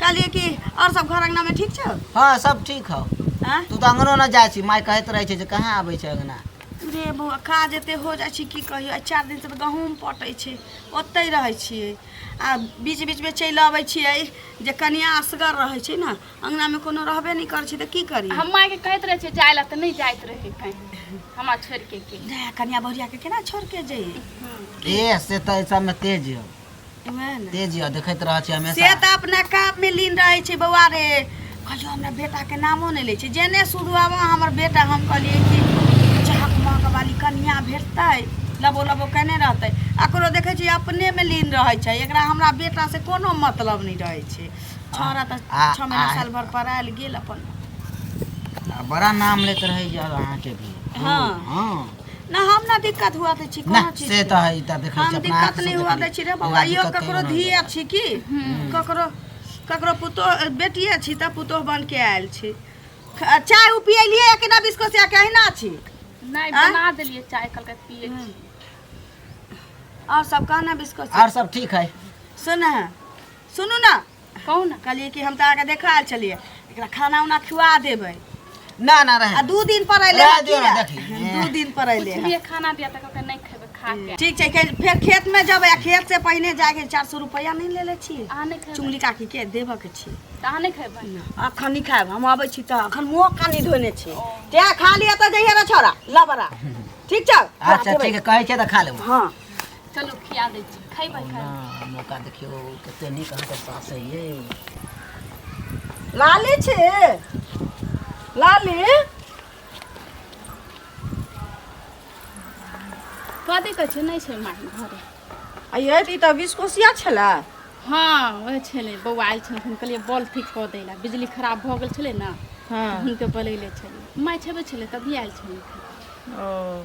कहलिए कि और सब घर अंगना में ठीक छौ हाँ सब ठीक हौ हाँ? तू तो अंगनो न जाए छी माय कहत रहे छे जे कहाँ आबै छे अंगना रे बौआ काज एते हो जाइ छै की कहियो आइ चारि दिन से तऽ गहूँम पटै छै ओतै रहै छियै आ बीच बीच में चलि अबै छियै जे कनिया असगर रहै छै ने अंगना में कोनो रहबे नहि करै छै तऽ की करी हम माय के कहत रहे छे जाय ला तऽ नहि जाइत रहे कहीं हमरा छोड़ के के कनिया बहुरिया के केना छोड़ के जइए ए से तो सब में तेज हो वएह ने तेज यऽ देखैत रहै छै से हमेशा तऽ अपना काम में लीन रहे छै बौआ रे कहियो हमरा बेटा के नामो नहीं ले छै जेने शुरू आब हमर बेटा हम कहलिए कि चाहक माँ के वाली कन्या भेटतै लबो लबो केने रहतै एकरो देखै छी अपने में लीन रहै छै एकरा हमरा बेटा से कोनो मतलब नहीं रहै छै छोरा तऽ आ- छः महीना आ- साल भर पर आयल गेल अपन आ बड़ा नाम लेत रहै यऽ अहाँके भी हँ। हाँ ना हम ना दिक्कत हुआ दै छी ना कोनो चीज से तऽ है ई तऽ देखै हम छी अपना दिक्कत आँखिसँ नहि हुआ देखली। दै छी रे बौआ बौआ इहो दिक्कत ककरो कहियो नहि धिये होइए। छी की ककरो ककरो पुतोह बेटिए छी तऽ पुतोह बन के आयल छी ख- चाय उ पियलियै कि ना बिस्कुट से कहिना छी नहीं आँय? बना दिलिए चाय कल के पिए छी। और सब कहना बिस्कुट से? आओर सब ठीक है सुन सुनू ना कहू ने कहलियै कि हम तऽ अहाँके देखा आयल छलियै एकरा खाना उना खुआ देबै ना ना रहे आ दू दिन पर अयलै रहे हँ दियौ ने, कीड़ा। देखी। दू दिन पर अयलै हँ। ये खाना दिया तक ओकर नहीं खेबे खा के ठीक छै के- फेर खेत में जब आ खेत से पहिने जाके चार सौ रुपया नहीं ले ले छी अहाँ नहीं खेबे चुंगली काकी के देबऽ के छी तऽ अहाँ नहीं खेबे अखन नहीं खाएब हम अबै छी तऽ अखन मुँह कानी धोने छी ते खा लिअ तऽ जइहे रे छोरा लबरा ठीक छौ अच्छा ठीक है कहे छे तो खा लेबो हाँ चलू खिया दै छी खैबै खा ना मौका देखियो कते नीक अहाँके सास है ये लाली छी लाली कथी कहै छै नहि छै माय घरे अये ई तऽ विस्कोसिया छलै हँ ओहे छलै बौआ आयल छलै हम कहलियै बॉल ठीक कऽ दै लए बिजली खराब भऽ गेल छलै ने हँ हुनके बोलैले छलै माय छेबे छलै तभी आयल छलै ओ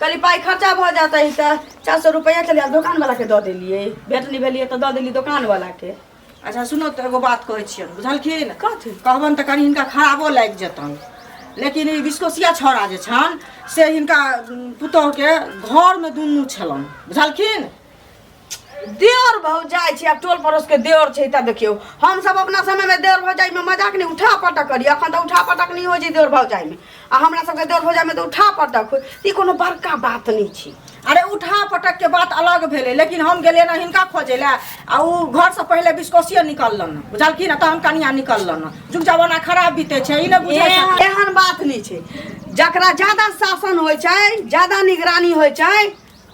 कली पाई खर्चा भ जाता है तो चार सौ रुपया चलिए दुकान वाला के दे दिलिए भेट नहीं भेलिए तो दे दिली दुकान वाला के अच्छा सुनो तो एगो बात कहै छियन बुझलखिन कथी कहबन तऽ कनि हिनका खराबो लागि जेतन लेकिन ई विस्कोसिया छौड़ा जे छन से हिनका उम, पुतोहके घरमे दुनू छलन बुझलखिन देवर भौजाई छै आ टोल पड़ोस के देवर छै तब देखियो हम सब अपना समय में देवर भौजाई में मजाक नहीं उठा पटक करी अखन तो उठा पटक नहीं हो जी देवर भौजाई में आ हमरा सब के देवर भौजाई में तो उठा पटक हो ई कोनो बड़का बात नहीं छी अरे उठा पटक के बात अलग भेलै लेकिन हम गेलियै ने हिनका खोजै लए आ ओ घरसँ पहिले बिस्कोसिए निकललन ने बुझलखिन ने तहन कनिया निकललन ने जुग जमाना खराब बीते छै ई नहि बुझै छै एहन एहन बात नहीं छै जकरा ज्यादा शासन होइ छै ज्यादा निगरानी होइ छै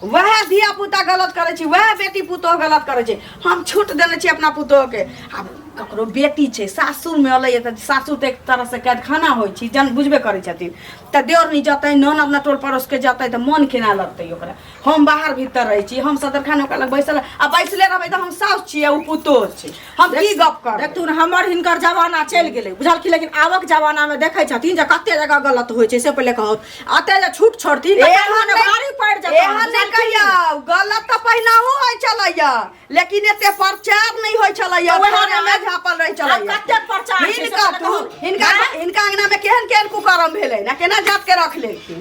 वह धिया पुता गलत करे छी वह बेटी पुतोह गलत करे छी हम छूट देने छी अपना पुतोह के आब ककरो बेटी छै सासुर में अलै तऽ सासुर तऽ एक तरह से कैद खाना होइ छी जन बुझबे करै छथिन तऽ देवर नहीं जतै नन अपना टोल पड़ोस के जतै तऽ मन केना लगतै ओकरा हम बाहर भीतर रहै छी हम सदरखान ओकरा लग बैसल आ बैसले रहबै तऽ हम साउस छियै ओ पुतोह छै हम की गप कर देखू ने हमर हिनकर जमाना चलि गेलै बुझलखिन लेकिन आबक जमाना में देखै छथिन जे कते जगह गलत होइ छै से पहिले कहू अते जे छूट छोड़थिन तऽ एहन कहलहुँ ने नहि- भारी पड़ि जेतनि, एहन नहि बुझलखिन? कहियौ गलत तऽ पहिनाहो होइ छलैया लेकिन एते प्रचार नहि होइ छलैया तऽ ओएह थाना मे ने- झापल रहै आब छलैया कतेक प्रचार छै से हिनका तऽ कहू। हिनका हिनका अंगना में केहन केहन कुकर्म भेलै ने केना जात के रख लेलखिन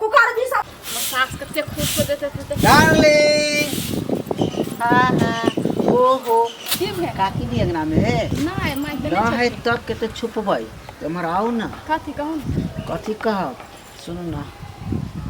कुकर भी सब हमर सास कते खुश हो देते थे डार्लिंग हाँ हाँ ओहो की भे काकी भी अंगना में है नहीं मैं तो ना है नहीं तब के तो छुप भाई तुम्हार आओ ना कथी कहूँ कथी कहब सुनू ना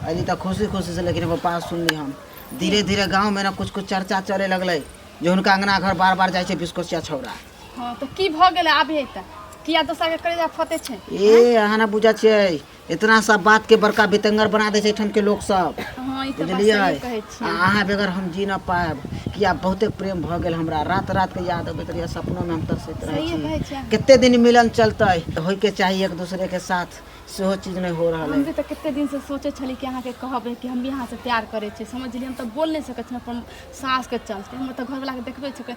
अरे तो खुशी खुशी से लेकिन एगो बात सुनली हम धीरे धीरे गांव में ना कुछ कुछ चर्चा चले लगले जे हुनका अंगना घर बार बार जाइ छै बिस्कोसिया छौड़ा हाँ तो की भऽ गेलै आबे तऽ किया दोसर के करे जा फते छै ए अहाँ ना बुझै छियै इतना सब बात के बड़का बितंगर बना दे छै एठाम के लोग सब हँ ई तऽ बात बुझलियै सही कहै छी आ अहाँ बगैर हम जी नहि पायब किया बहुते प्रेम भऽ गेल हमरा रात रात के याद अबैत रहैया सपनो मे हम तरसैत रहै सहिए कहै छी छी अहाँ कते दिन मिलन चलतै तऽ होयके चाही एक दोसरे के साथ सेहो चीज नहि हो रहल हम भी अइ तऽ कते दिन से सोचै छलियै कि अहाँके कहबै कि हम भी अहाँसँ प्यार करै छियै समझलियै हम तऽ बोल नहि सकै छी अपन सासके चलते हम तऽ घरवलाके देखबै छियै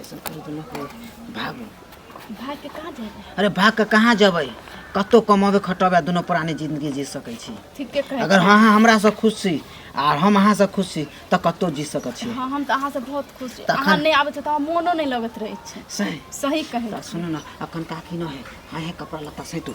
ऐसन करी तो ना कोई भाग भाग के कहाँ जाए अरे भाग के कहाँ जबै कतो कमाबे खटबे दोनों प्राणी जिंदगी जी सकै छी ठीक के कहे अगर हाँ हाँ हमरा से खुश छी आर हम अहाँ से खुश छी तऽ कतो जी सकै छी हाँ हम तऽ अहाँ से बहुत खुश छी तखन- अहाँ नहीं आबे छी तऽ हमरा मोनो नहीं लगत रहे छै सही सही कहे तऽ सुनू ने अखन काकी न है हाँ है कपड़ा लत्ता सैतू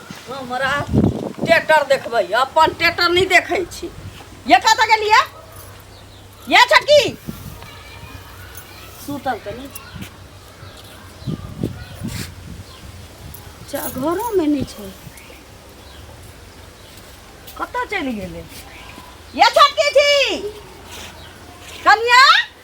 हमरा टेटर देखबै अपन टेटर नहि देखै छी ये कतऽ गेलियै ये छटकी सुतल तऽ नहि चा घरोमे नहि छै कतऽ चलि गेलै ये छटकी छी कनिया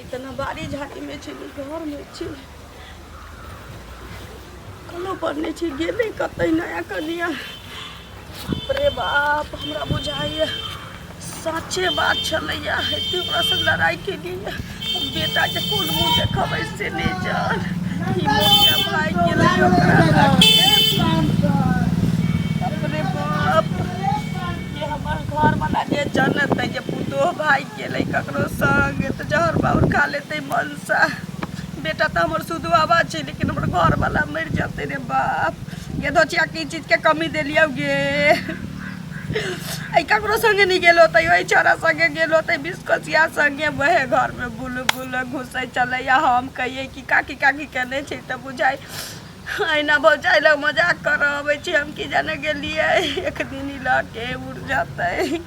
इतना बाड़ी झाड़ी में छी घर में छी कलो पर नहीं छी गेले कत नया कनिया अरे बाप हमरा बुझाइए साचे बात छलैया हेतु लड़ाई के लिए बेटा के कोन मुंह देखबै से नहीं जान ई मोटिया भाई के रही ओकरा लागे। अपने बाप ये हमर घर वाला जे जानत है जे पुतो भाई के ले ककरो संग तो जहर बाउर खा लेते मनसा बेटा तो हमर सुदवाबा छै लेकिन हमर घर वाला मर जते रे बाप ये धोचिया की चीज के कमी देलियौ गे एहि ककरो सङ्गे नहि गेल होतै ओहि छोड़ा सङ्गे गेल होतै बिसकोचिया सङ्गे वएह घरमे बुल बुल घुसै छलैया हम कहियै कि काकी काकी केने छै तऽ बुझाइ अहिना भौजाइ लग मजाक करऽ अबै छी हम की जाने गेलियै एक दिन ई लऽ के उड़ जेतै